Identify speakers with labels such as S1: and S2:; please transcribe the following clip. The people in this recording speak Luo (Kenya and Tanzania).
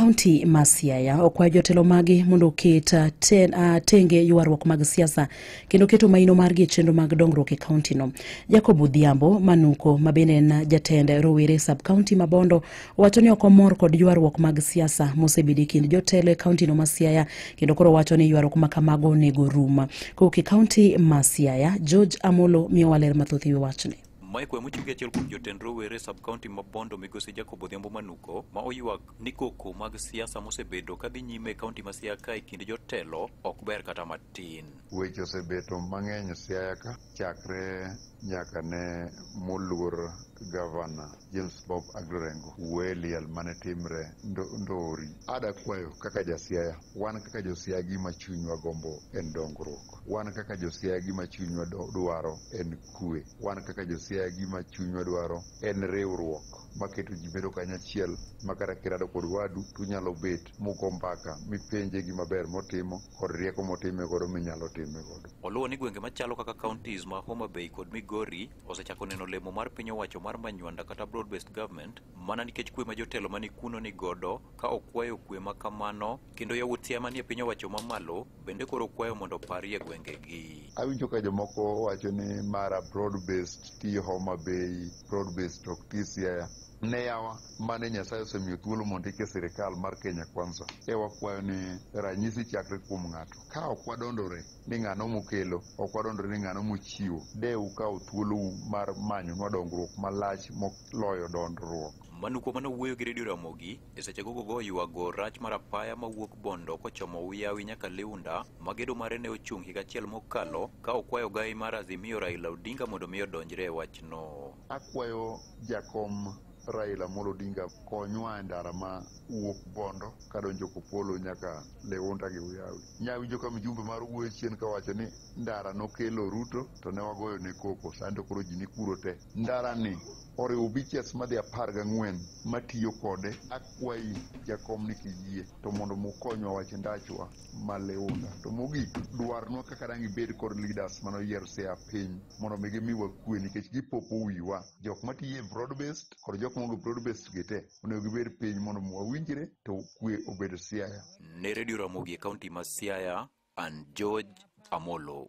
S1: kaunti ma Siaya okwayo jotelo mage mondo oket ah, ten- ah, tenge ywaruok mag siasa kendo keto maino margi e chenro mag dongruok e kauntino. Jacob Odhiambo Manuko ma bende en jatend rowere sub kaunti ma Bondo wacho ni ok omor kod ywaruok mag siasa mosebedo e kind jotelo e kauntino ma Siaya kendo koro wacho ni ywaruok ma kamago onego rum. Kowuok e kaunti ma Siaya, George Amolo miyowa ler mathoth e wi wachni. Mike Wemo chiege achiel
S2: kuom jotend rowere sub county ma Bondo migosi Jacob Odhiambo Manuko ma oywak ni koko mag siasa mosebedo ka dhi nyime e kaunti ma Siaya ka e kind jotelo ok ber kata matin. Weche osebeto
S3: mang'eny Siaya ka chakre nyaka ne moluor gavana James Bob Aglorengo wuoye liel mane timre ndo- Ndori. Ada kwayo kaka jasiaya, wan kaka josiaya gima chunywa gombo en dongruok. Wan kaka josiaya gima chunywa do- dwaro en kwe. Wan kaka josiaya gima chunywa dwaro en riwruok maketo ji bedo kanyachiel ma kata kirado kod wadu to unyalo bet mugo mbaka mipenje gima ber motimo kod rieko motime godo minyalo time godo. Oluwo ni gwenge machalo
S2: kaka counties ma Homa Bay kod Migori osechako neno lemo mar piny owacho mar manywanda kata broad based government mana nikech kwe ma jotelo mani kuno ni godo ka okwayo kwe ma kamano kendo yawuot Siaya manie piny owacho mamalo bende koro kwayo mondo oparie gwengegi. Awinjo ka jomoko
S3: wacho ni mara broad based ti Homa Bay, broad based to ok ti Siaya. Ne yawa mane Nyasaye osemiyo thuolo mondo ike sirikal mar Kenya Kwanza. E wakwayo ni ranyisi chakre kuom ng'ato. Ka ok wadondore ni ng'ano mokelo, ok wadondore ni ng'ano mochiwo, de ukaw thuolou mar manyonwa dongruok malach moloyo dondruok. Manu kuom mane owuoyo
S2: gi Radio Ramogi E sechego gogo ywago rach mar apaya mawuok Bondo kochomo Uyawi nyaka Liunda ma gedo mare ne ochung' higa achiel mokalo ka okwayo gai mar Azimio Raila Odinga mondo mi odonjre e wachno. Akwayo
S3: jakom Raila Amolo Odinga konywa e ndara ma wuok Bondo kadonjo Kopolo nyaka Liunda gi Uyawi. Nyawinjo ka mjumbe mar wuoyo chien kawacho ni ndara nokelo Ruto to ne wagoyo ne koko sani to koro ji ni kuro te. Ndarani oriwo biches madhi apar gang'wen matiyo kode. Akwayi jakom ni kiyie to mondo mukonywa wach ndachwa ma Leunda. To mogik, dwarnwa kaka dang' ibed kod leaders mane oyier sea piny mondo mi gimiwa kwe nikech gipopo wiwa. Jok matiyo e broad based kod jok maonge broad based gi te onego gibed piny mondo mi wawinjre to kwe obed Siaya.
S2: Ne Radio Ramogi e
S3: kaunti
S2: ma Siaya, an George Amolo.